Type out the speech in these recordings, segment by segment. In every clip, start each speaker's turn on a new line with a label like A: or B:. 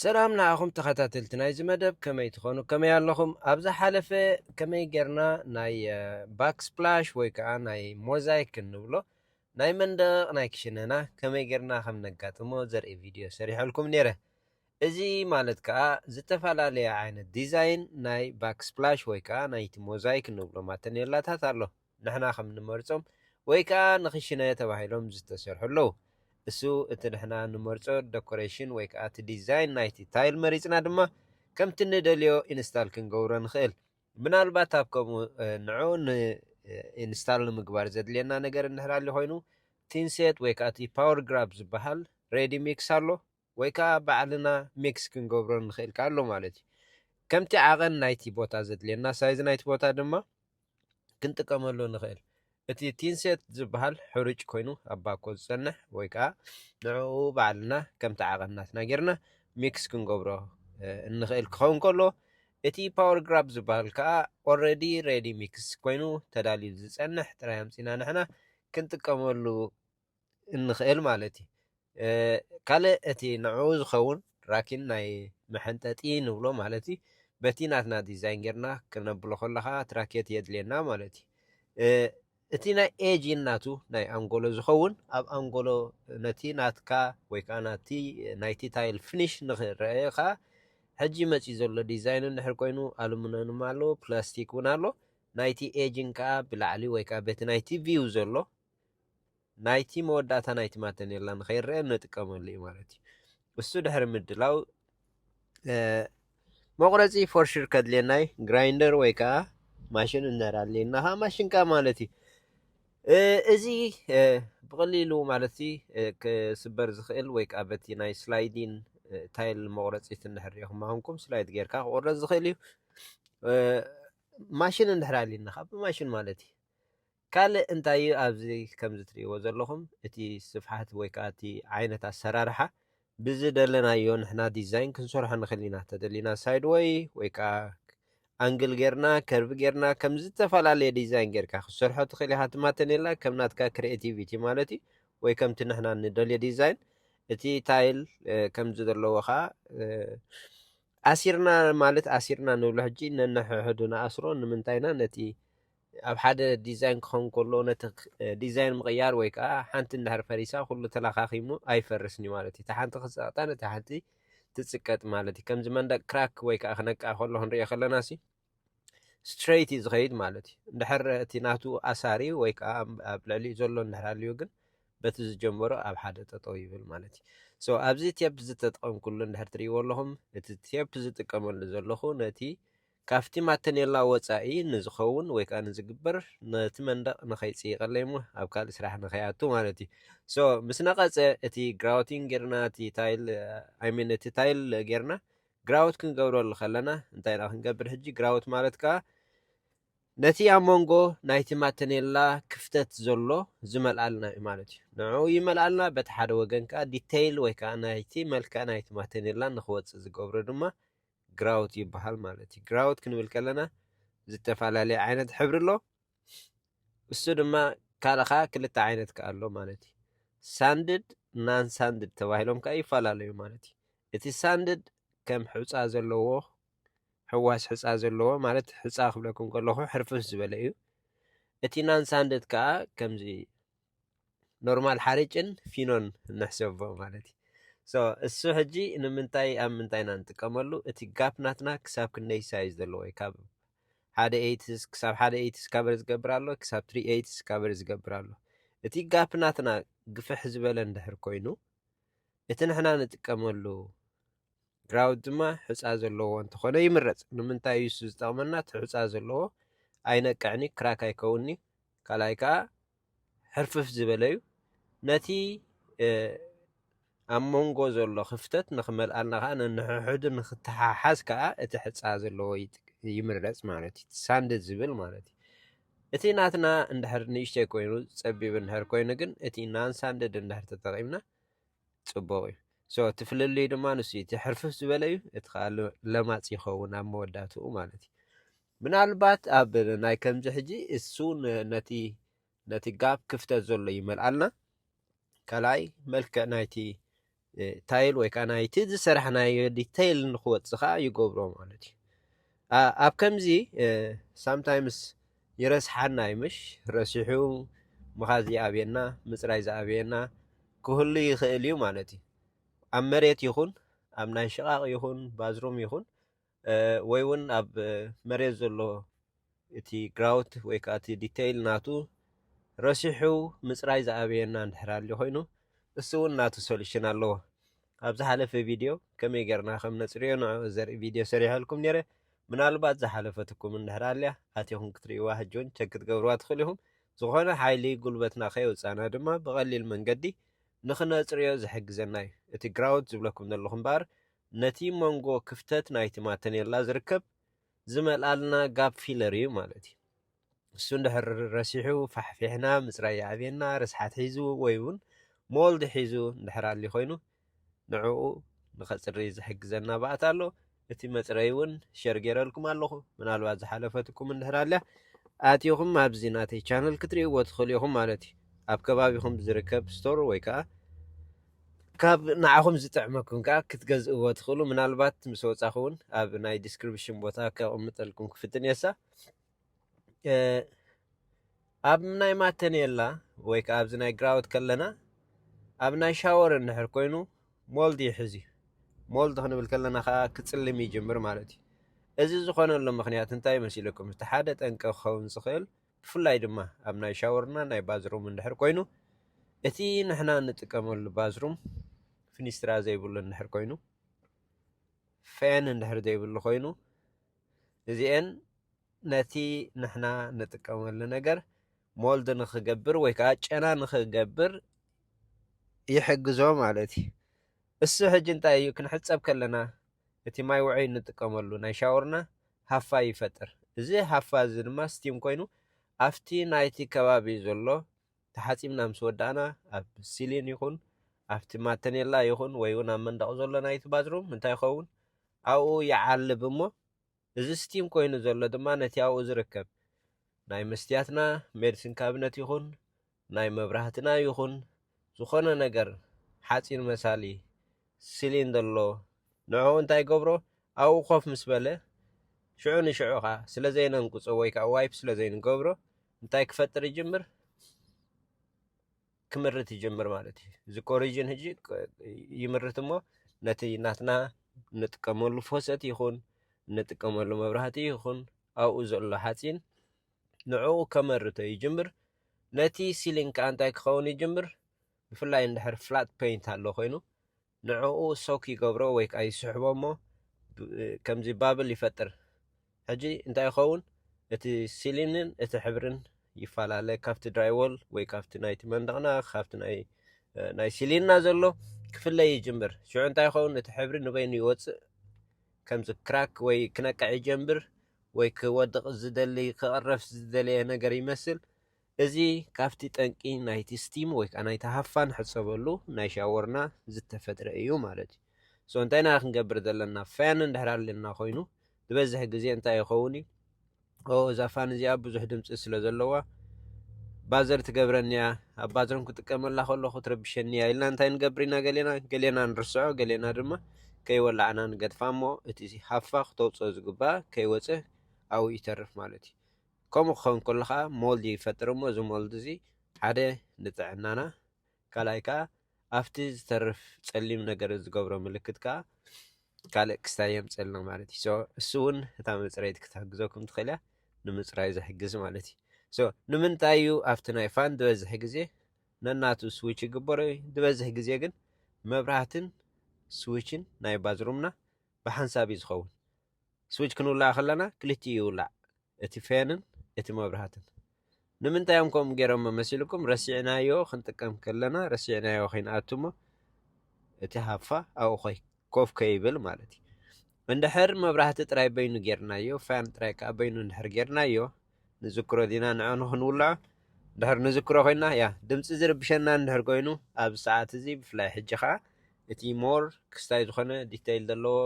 A: ሰላም ንዓኹም ተኸታተልቲ ናይዚ መደብ ከመይ ትኾኑ ከመይ ኣለኹም ኣብ ዝሓለፈ ከመይ ጌርና ናይ ባክስፕላሽ ወይ ከዓ ናይ ሞዛይክ እንብሎ ናይ መንደቕ ናይ ክሽነና ከመይ ጌርና ከም ነጋጥሞ ዘርኢ ቪድዮ ሰሪሐልኩም ነይረ እዚ ማለት ከዓ ዝተፈላለየ ዓይነት ዲዛይን ናይ ባክስፕላሽ ወይ ከዓ ናይቲ ሞዛይክ እንብሎ ማተኔላታት ኣሎ ንሕና ከም ንመርጾም ወይ ከኣ ንክሽነ ተባሂሎም ዝተሰርሑ ኣለዉ። እሱ እቲ ንሕና ንመርጾ ደኮረሽን ወይ ከኣ እቲ ዲዛይን ናይቲ ታይል መሪጽና ድማ ከምቲ ንደልዮ ኢንስታል ክንገብሮ ንክእል። ምናልባት ኣብ ከምኡ ንዕኡ ኢንስታል ንምግባር ዘድልየና ነገር እንድሕር ኣልዩ ኮይኑ ቲንሴት ወይ ከኣ እቲ ፓወር ግራብ ዝበሃል ሬዲ ሚክስ ኣሎ። ወይ ከኣ ባዕልና ሚክስ ክንገብሮ ንኽእል ከኣ ኣሎ ማለት እዩ። ከምቲ ዓቐን ናይቲ ቦታ ዘድልየና ሳይዝ ናይቲ ቦታ ድማ ክንጥቀመሉ ንኽእል። እቲ ቲን ሴት ዝበሃል ሕሩጭ ኮይኑ ኣብ ባኮ ዝጸንሕ ወይ ከኣ ንዕኡ ባዕልና ከምቲ ዓቐን ናትና ጌርና ሚክስ ክንገብሮ እንኽእል ክኸውን ከሎ እቲ ፓወር ግራብ ዝበሃል ከኣ ኦልሬዲ ሬዲ ሚክስ ኮይኑ ተዳልዩ ዝጸንሕ ጥራይ ኣምጺና ንሕና ክንጥቀመሉ እንኽእል ማለት እዩ። ካልእ እቲ ንዕኡ ዝኸውን ራኪን ናይ መሐንጠጢ ንብሎ ማለት እዩ። በቲ ናትና ዲዛይን ጌርና ክነብሎ ከሎ ከዓ ትራኬት የድልየና ማለት እዩ። እቲ ናይ ኤጂ ናቱ ናይ ኣንጎሎ ዝኸውን ኣብ ኣንጎሎ ነቲ ናትካ ወይ ከዓ ናቲ ናይቲ ታይል ፍኒሽ ንክረአ ከዓ ሕጂ መፅዩ ዘሎ ዲዛይን እንድሕር ኮይኑ ኣሉሚኒየም ኣሎ ፕላስቲክ እውን ኣሎ ናይቲ ኤጅን ከዓ ብላዕሊ ወይ ከዓ በቲ ናይቲ ቪው ዘሎ ናይቲ መወዳእታ ናይቲ ማተኔላ ንኸይረአ እንጥቀመሉ እዩ ማለት እዩ እሱ ድሕሪ ምድላው መቑረፂ ፎርሽር ከድልየና እዩ ግራይንደር ወይ ከዓ ማሽን እንድሕር ኣድልየና ከዓ ማሽን ከዓ ማለት እዩ እዚ ብቐሊሉ ማለት ክስበር ዝኽእል ወይ ከዓ በቲ ናይ ስላይዲን ታይል መቑረፂት እንድሕር ሪኹም ኣኹንኩም ስላይድ ጌርካ ክቑረፅ ዝኽእል እዩ ማሽን እንድሕር ኣድልየና ከዓ ብማሽን ማለት እዩ ካልእ እንታይ እዩ ኣብዚ ከምዚ ትርእይዎ ዘለኹም እቲ ስፍሓት ወይ ከኣ እቲ ዓይነት ኣሰራርሓ ብዝደለናዮ ንሕና ዲዛይን ክንሰርሖ ንኽእል ኢና ተደሊና ሳይድ ወይ ወይ ከኣ ኣንግል ጌርና ከርቭ ጌርና ከም ዝተፈላለየ ዲዛይን ጌርካ ክትሰርሖ ትኽእል ኢኻ እቲ ማተኔላ ከም ናትካ ክሬቲቪቲ ማለት እዩ ወይ ከምቲ ንሕና ንደልዮ ዲዛይን እቲ ታይል ከምዚ ዘለዎ ከዓ ኣሲርና ማለት ኣሲርና ንብሎ ሕጂ ነንሕሕዱ ንኣስሮ ንምንታይና ነቲ ኣብ ሓደ ዲዛይን ክኸውን ከሎ ነቲ ዲዛይን ምቕያር ወይ ከዓ ሓንቲ እንድሕር ፈሪሳ ኩሉ ተላኻኺሙ ኣይፈርስን እዩ ማለት እዩ። እታ ሓንቲ ክትጸቕጠን እታ ሓንቲ ትጽቀጥ ማለት እዩ። ከምዚ መንደቅ ክራክ ወይ ከዓ ክነቅዕ ከሎ ክንሪኦ ከለና ሲ ስትሬት እዩ ዝኸይድ ማለት እዩ። እንድሕር እቲ ናቱ ኣሳሪ ወይ ከዓ ኣብ ልዕሊኡ ዘሎ እንድሕር ኣልዩ ግን በቲ ዝጀመሮ ኣብ ሓደ ጠጠው ይብል ማለት እዩ። ሶ ኣብዚ ቴፕ ዝተጠቐምኩሉ እንድሕር ትሪእዎ ኣለኹም እቲ ቴፕ ዝጥቀመሉ ዘለኹ ነቲ ካብቲ ማተኔላ ወጻኢ ንዝኸውን ወይ ከኣ ንዝግበር ነቲ መንደቕ ንኸይጽይቀለይ እሞ ኣብ ካልእ ስራሕ ንኸይኣቱ ማለት እዩ so ምስ ነቐጸ እቲ grouting ጌርና እቲ tile i mean እቲ tile ጌርና grout ክንገብረሉ ከለና እንታይ ኢና ክንገብር ሕጂ grout ማለት ከኣ ነቲ ኣብ መንጎ ናይቲ ማተኔላ ክፍተት ዘሎ ዝመልኣልና እዩ ማለት እዩ ንዕኡ ይመልኣልና በቲ ሓደ ወገን ከኣ ዲተይል ወይ ከኣ ናይቲ መልክዕ ናይቲ ማተኔላ ንኽወጽእ ዝገብሮ ድማ ግራውት ይበሃል ማለት እዩ። ግራውት ክንብል ከለና ዝተፈላለየ ዓይነት ሕብሪ ኣሎ። እሱ ድማ ካልእ ከዓ ክልተ ዓይነት ከዓ ኣሎ ማለት እዩ። ሳንድድ ናን ሳንድድ ተባሂሎም ከዓ ይፈላለዩ ማለት እዩ። እቲ ሳንድድ ከም ሕፃ ዘለዎ ሕዋስ ሕፃ ዘለዎ ማለት ሕፃ ክብለኩም ከለኹ ሕርፍፍ ዝበለ እዩ። እቲ ናን ሳንድድ ከዓ ከምዚ ኖርማል ሓርጭን ፊኖን ንሕሰቦ ማለት እዩ ሶ እሱ ሕጂ ንምንታይ ኣብ ምንታይ ኢና ንጥቀመሉ እቲ ጋፕ ናትና ክሳብ ክንደይ ሳይዝ ዘለዎ እዩ ካብ ሓደ ኤይትስ ክሳብ ሓደ ኤይትስ ካበር ዝገብር ኣሎ ክሳብ ትሪ ኤይትስ ካበር ዝገብር ኣሎ እቲ ጋፕ ናትና ግፍሕ ዝበለ እንድሕር ኮይኑ እቲ ንሕና ንጥቀመሉ ግራውት ድማ ሑፃ ዘለዎ እንተኾነ ይምረፅ። ንምንታይ እዩ እሱ ዝጠቕመና? እቲ ሑፃ ዘለዎ ኣይነቅዕን እዩ፣ ክራክ ኣይከውን እዩ። ካልኣይ ከዓ ሕርፍፍ ዝበለ እዩ። ነቲ እ፣ ኣብ መንጎ ዘሎ ክፍተት ንክመልኣልና ከዓ ነንሕሕዱ ንክተሓሓዝ ከዓ እቲ ሕፃ ዘለዎ ይጥ- ይምረፅ ማለት እዩ። እቲ ሳንድ ዝብል ማለት እዩ። እቲ ናትና እንድሕር ንእሽተይ ኮይኑ ፀቢብ እንድሕር ኮይኑ ግን እቲ ናን ሳንድድ እንድሕር ተጠቂምና ጽቡቕ እዩ ሶ እቲ ፍልልዩ ድማ ንሱ እዩ እቲ ሕርፍፍ ዝበለ እዩ እቲ ከዓ ለማፅ ይኸውን ኣብ መወዳትኡ ማለት እዩ ምናልባት ኣብ ናይ ከምዚ ሕጂ እሱ ነቲ ነቲ ጋብ ክፍተት ዘሎ ይመልኣልና ካልኣይ መልክዕ ናይቲ ታይል ወይ ከዓ ናይቲ ዝሰራሕናዮ ዲተይል ንክወፅእ ከዓ ይገብሮ ማለት እዩ ኣብ ከምዚ ሳምታይምስ ይረስሓና እዩ ምሽ ረሲሑ ምኻዝ ይኣብየና ምጽራይ ዝኣብየና ክህሉ ይኽእል እዩ ማለት እዩ ኣብ መሬት ይኹን ኣብ ናይ ሽቓቕ ይኹን ባዝሩም ይኹን ወይ እውን ኣብ መሬት ዘሎ እቲ ግራውት ወይ ከዓ እቲ ዲተይል ናቱ ረሲሑ ምጽራይ ዝኣብየና እንድሕር ኣልዩ ኮይኑ እሱ እውን ናቱ ሶሉሽን ኣለዎ ኣብ ዝሓለፈ ቪድዮ ከመይ ጌርና ከም ነጽርዮ ንዕኡ ዘርኢ ቪድዮ ሰሪሐልኩም ነይረ። ምናልባት ዝሓለፈትኩም እንድሕር ኣልያ ኣቲኹም ክትርእይዋ ሕጂ እውን ቸክ ክትገብርዋ ትኽእሉ ኢኹም። ዝኾነ ሓይሊ ጉልበትና ከየውጻእና ድማ ብቐሊል መንገዲ ንኽነጽርዮ ዝሕግዘና እዩ። እቲ ግራውት ዝብለኩም ዘለኹ እምበኣር ነቲ መንጎ ክፍተት ናይቲ ማተኔላ ዝርከብ ዝመልኣልና ጋፕ ፊለር እዩ ማለት እዩ። እሱ እንድሕር ረሲሑ ፋሕፊሕና ምፅራይ የዕብየና ርስሓት ሒዙ ወይ እውን ሞልድ ሒዙ እንድሕር ኣልዩ ኮይኑ ንዕኡ ንኸፅሪ ዝሕግዘና ባእታ ኣሎ። እቲ መፅረይ እውን ሸር ገይረልኩም ኣለኹ ምናልባት ዝሓለፈትኩም እንድሕር ኣልያ ኣትኹም ኣብዚ ናተይ ቻነል ክትርእይዎ ትኽእሉ ኢኹም ማለት እዩ። ኣብ ከባቢኹም ብዝርከብ ስቶር ወይ ከዓ ካብ ንዓኹም ዝጥዕመኩም ከኣ ክትገዝእዎ ትኽእሉ ምናልባት ምስ ወጻኹ ውን ኣብ ናይ ዲስክሪፕሽን ቦታ ከቕምጠልኩም ክፍትን እየሳ ኣብ ናይ ማተኔላ ወይ ከኣ ኣብዚ ናይ ግራውት ከለና ኣብ ናይ ሻወር እንድሕር ኮይኑ ሞልድ ይሕዝ እዩ ሞልድ ክንብል ከለና ከዓ ክፅልም ይጅምር ማለት እዩ እዚ ዝኾነሉ ምክንያት እንታይ መሲለኩም እቲ ሓደ ጠንቂ ክኸውን ዝኽእል ብፍላይ ድማ ኣብ ናይ ሻወርና ናይ ባዝሩም እንድሕር ኮይኑ እቲ ንሕና እንጥቀመሉ ባዝሩም ፍኒስትራ ዘይብሉ እንድሕር ኮይኑ ፌን እንድሕር ዘይብሉ ኮይኑ እዚኤን ነቲ ንሕና ንጥቀመሉ ነገር ሞልድ ንክገብር ወይ ከዓ ጨና ንክገብር ይሕግዞ ማለት እዩ። እሱ ሕጂ እንታይ እዩ ክንሕፀብ ከለና እቲ ማይ ውዑይ እንጥቀመሉ ናይ ሻወርና ሃፋ ይፈጥር። እዚ ሃፋ እዚ ድማ ስቲም ኮይኑ ኣብቲ ናይቲ ከባቢ ዘሎ ተሓጺብና ምስ ወዳእና ኣብ ሲሊን ይኹን ኣብቲ ማተኔላ ይኹን ወይ እውን ኣብ መንደቕ ዘሎ ናይቲ ባዝሩም እንታይ ይኸውን ኣብኡ ይዓልብ እሞ እዚ ስቲም ኮይኑ ዘሎ ድማ ነቲ ኣብኡ ዝርከብ ናይ መስትያትና ሜድስን ካብነት ይኹን ናይ መብራህትና ይኹን ዝኾነ ነገር ሓጺን መሳሊ ስሊን ዘሎ ንዕኡ እንታይ ይገብሮ ኣብኡ ኮፍ ምስ በለ ሽዑ ንሽዑ ከኣ ስለ ዘይነንቁጾ ወይ ከኣ ዋይፕ ስለ ዘይንገብሮ እንታይ ክፈጥር ይጅምር ክምርት ይጀምር ማለት እዩ እዚ ኮሪጅን ህጂ ይምርት እሞ ነቲ ናትና ንጥቀመሉ ፎሰት ይኹን ንጥቀመሉ መብራህቲ ይኹን ኣብኡ ዘሎ ሓፂን ንዕኡ ከመርቶ ይጅምር ነቲ ሲሊንግ ከዓ እንታይ ክኸውን ይጅምር ብፍላይ እንድሕር ፍላት ፔይንት ኣሎ ኮይኑ ንዕኡ ሶክ ይገብሮ ወይ ከኣ ይስሕቦ እሞ ከምዚ ባብል ይፈጥር ሕጂ እንታይ ይኸውን እቲ ሲሊንን እቲ ሕብርን ይፈላለ ካብቲ ድራይዎል ወይ ካብቲ ናይቲ መንደቕና ካብቲ ናይ ናይ ሲሊንና ዘሎ ክፍለይ ይጅምር ሽዑ እንታይ ይኸውን እቲ ሕብሪ ንበይኑ ይወፅእ ከምዚ ክራክ ወይ ክነቅዕ ይጀምር ወይ ክወድቕ ዝደሊ ክቕረፍ ዝደለየ ነገር ይመስል እዚ ካብቲ ጠንቂ ናይቲ ስቲም ወይ ከኣ ናይቲ ሃፋ ንሕጸበሉ ናይ ሻወርና ዝተፈጥረ እዩ ማለት እዩ። so እንታይ ኢና ክንገብር ዘለና ፋን እንድሕር ኣልና ኮይኑ ዝበዝሕ ግዜ እንታይ ይኸውን እዩ oh እዛ ፋን እዚኣ ብዙሕ ድምጺ ስለ ዘለዋ ባዘር ትገብረኒ እያ ኣብ ባዝሮም ክጥቀመላ ከለኹ ትረብሸኒ እያ ኢልና እንታይ ንገብር ኢና ገሌና ገሌና ንርስዖ ገሌና ድማ ከይወላዕና ንገድፋ እሞ እቲ ሃፋ ክተውጽኦ ዝግባእ ከይወጽእ ኣብኡ ይተርፍ ማለት እዩ። ከምኡ ክኸውን ከሎ ከኣ ሞልድ ይፈጥር እሞ እዚ ሞልድ እዚ ሓደ ንጥዕናና ካልኣይ ከኣ ኣብቲ ዝተርፍ ጸሊም ነገር ዝገብሮ ምልክት ከኣ ካልእ ክስታይ የምጽልና ማለት እዩ። ሶ እሱ እውን እታ መጽረይቲ ክትሕግዘኩም ትኽእል እያ ንምጽራይ ዝሕግዝ ማለት እዩ። ሶ ንምንታይ እዩ ኣብቲ ናይ ፋን ዝበዝሕ ግዜ ነናቱ ስዊች ይግበሮ እዩ። ዝበዝሕ ግዜ ግን መብራህትን ስዊችን ናይ ባዝሩምና ብሓንሳብ እዩ ዝኸውን። ስዊች ክንውላዕ ከለና ክልቲኡ ይውላዕ እቲ ፌንን እቲ መብራህትን ንምንታይ እዮም ከምኡ ገይሮሞ መሲልኩም ረሲዕናዮ ክንጥቀም ከለና ረሲዕናዮ ከይንኣቱ እሞ እቲ ሃፋ ኣብኡ ኮይ ኮፍ ከይብል ማለት እዩ እንድሕር መብራህቲ ጥራይ በይኑ ጌርናዮ ፋን ጥራይ ከዓ በይኑ እንድሕር ጌርናዮ ንዝክሮ ዲና ንዐ ንክንውልዖ እንድሕር ንዝክሮ ኮይና ያ ድምፂ ዝርብሸና እንድሕር ኮይኑ ኣብ ሰዓት እዚ ብፍላይ ሕጂ ከዓ እቲ ሞር ክስታይ ዝኾነ ዲተይል ዘለዎ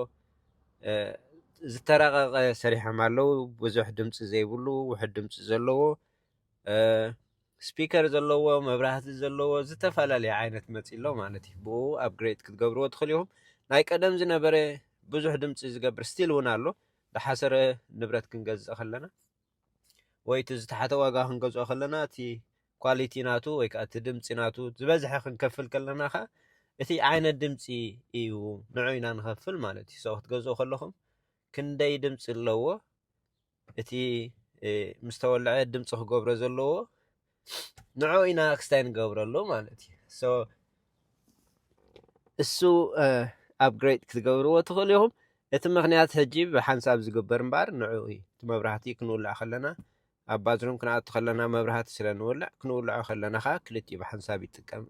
A: ዝተራቐቐ ሰሪሖም ኣለዉ ብዙሕ ድምፂ ዘይብሉ ውሕድ ድምፂ ዘለዎ ስፒከር ዘለዎ መብራህቲ ዘለዎ ዝተፈላለየ ዓይነት መፂ ኣሎ ማለት እዩ ብኡ ኣብግሬድ ክትገብርዎ ትኽእል ኢኹም ናይ ቀደም ዝነበረ ብዙሕ ድምፂ ዝገብር ስቲል እውን ኣሎ ብሓሰረ ንብረት ክንገዝእ ከለና ወይ እቲ ዝተሓተ ዋጋ ክንገዝኦ ከለና እቲ ኳሊቲ ናቱ ወይ ከዓ እቲ ድምፂ ናቱ ዝበዝሐ ክንከፍል ከለና ከዓ እቲ ዓይነት ድምፂ እዩ ንዑ ኢና ንኸፍል ማለት እዩ ሰው ክትገዝኡ ከለኹም ክንደይ ድምፂ ኣለዎ እቲ ምስ ተወልዐ ድምፂ ክገብሮ ዘለዎ ንዕኡ ኢና ኣክስታይ ንገብረሉ ማለት እዩ ሶ እሱ ኣፕግሬድ ክትገብርዎ ትኽእሉ ኢኹም እቲ ምክንያት ሕጂ ብሓንሳብ ዝግበር እምበኣር ንዕኡ እዩ እቲ መብራህቲ ክንውልዕ ከለና ኣብ ባዝሩም ክንኣቱ ከለና መብራህቲ ስለ ንውልዕ ክንውልዖ ከለና ከዓ ክልቲኡ ብሓንሳብ ይጥቀም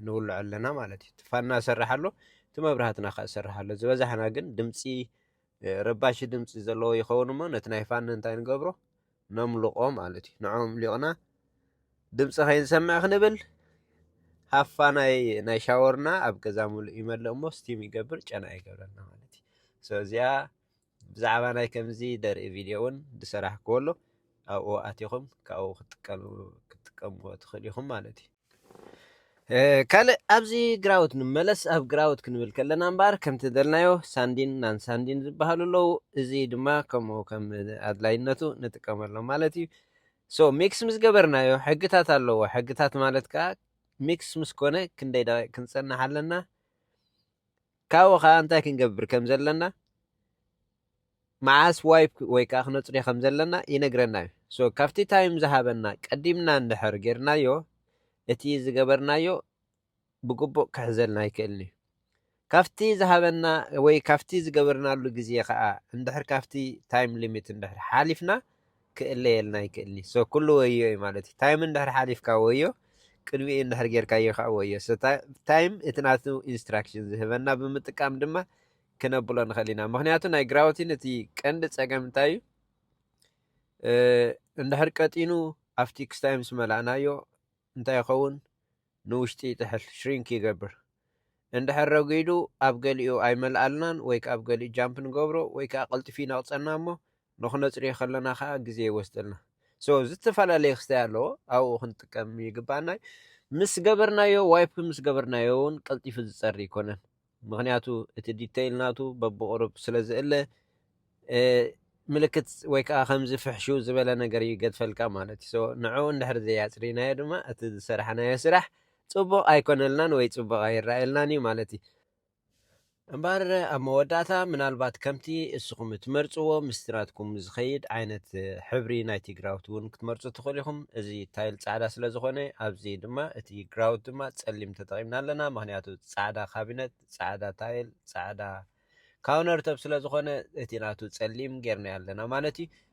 A: ንውልዖ ኣለና ማለት እዩ ትፋና ሰርሕ ኣሎ እቲ መብራህትና ከዓ ሰርሕ ኣሎ ዝበዛሕና ግን ድምፂ ረባሺ ድምፂ ዘለዎ ይኸውን እሞ ነቲ ናይ ፋኒ እንታይ ንገብሮ ነምልቆ ማለት እዩ ንዖም ሊቕና ድምፂ ከይንሰምዕ ክንብል ሃፋ ናይ ናይ ሻወርና ኣብ ገዛ ምሉእ ይመልእ እሞ ስቲም ይገብር ጨና ይገብረልና ማለት እዩ ሶ እዚኣ ብዛዕባ ናይ ከምዚ ደርኢ ቪድዮ እውን ዝሰራሕክዎ ኣሎ ኣብኡ ኣቲኹም ካብኡ ክትጥቀምዎ ትኽእል ኢኹም ማለት እዩ ካልእ ኣብዚ ግራውት ንመለስ ኣብ ግራውት ክንብል ከለና እምበኣር ከምቲ ዝደልናዮ ሳንዲን ናን ሳንዲን ዝበሃሉ ኣለዉ እዚ ድማ ከምኡ ከም ኣድላይነቱ ንጥቀመሎም ማለት እዩ ሶ ሚክስ ምስ ገበርናዮ ሕግታት ኣለዎ ሕግታት ማለት ከዓ ሚክስ ምስ ኮነ ክንደይ ደቂቕ ክንጸንሕ ኣለና ካብኡ ከኣ እንታይ ክንገብር ከም ዘለና መዓስ ዋይፕ ወይ ከኣ ክነጽርዮ ከም ዘለና ይነግረና እዩ። ሶ ካብቲ ታይም ዝሃበና ቀዲምና እንድሕር ጌርናዮ እቲ ዝገበርናዮ ብግቡእ ክሕዘልና ኣይክእልን እዩ። ካብቲ ዝሃበና ወይ ካብቲ ዝገበርናሉ ግዜ ከኣ እንድሕር ካብቲ ታይም ሊሚት እንድሕር ሓሊፍና ክእለየልና ይክእልኒ so ኩሉ ወዮ እዩ ማለት እዩ ታይም እንድሕር ሓሊፍካ ወዮ ቅድሚኡ እንድሕር ጌርካዮ ከኣ ወዮ so ታይም እቲ ናቱ ኢንስትራክሽን ዝህበና ብምጥቃም ድማ ክነብሎ ንክእል ኢና ምክንያቱ ናይ ግራውቲን እቲ ቀንዲ ጸገም እንታይ እዩ እንድሕር ቀጢኑ ኣብቲ ክስታይ ምስ መላእናዮ እንታይ ይኸውን ንውሽጢ ይጥሕል ሽሪንክ ይገብር እንድሕር ረጒዱ ኣብ ገሊኡ ኣይመልኣልናን ወይ ከዓ ኣብ ገሊኡ ጃምፕ ንገብሮ ወይ ከዓ ቀልጢፉ ይነቕፀና እሞ ንክነጽርዮ ከለና ከኣ ግዜ ይወስደልና ሶ ዝተፈላለየ ክስታይ ኣለዎ ኣብኡ ክንጥቀም ይግባኣና እዩ ምስ ገበርናዮ ዋይፕ ምስ ገበርናዮ እውን ቀልጢፉ ዝጸሪ ይኮነን ምክንያቱ እቲ ዲተይል ናቱ በብቕሩብ ስለ ዝእለ ምልክት ወይ ከዓ ከምዚ ፍሕሹ ዝበለ ነገር ይገድፈልካ ማለት እዩ ንዕኡ እንድሕር ዘያፅሪናዮ ድማ እቲ ዝሰራሕናዮ ስራሕ ፅቡቕ ኣይኮነልናን ወይ ፅቡቕ ኣይረኣየልናን እዩ ማለት እዩ እምበኣር ኣብ መወዳእታ ምናልባት ከምቲ እስኹም እትመርጽዎ ምስጢራትኩም ዝኸይድ ዓይነት ሕብሪ ናይቲ ግራውት እውን ክትመርጹ ትኽእሉ ኢኹም። እዚ ታይል ጻዕዳ ስለ ዝኾነ ኣብዚ ድማ እቲ ግራውት ድማ ጸሊም ተጠቒምና ኣለና ምኽንያቱ ጻዕዳ ካቢነት፣ ጻዕዳ ታይል፣ ጻዕዳ ካውነርቶፕ ስለ ዝኾነ እቲ ናቱ ጸሊም ጌርናዮ ኣለና ማለት እዩ።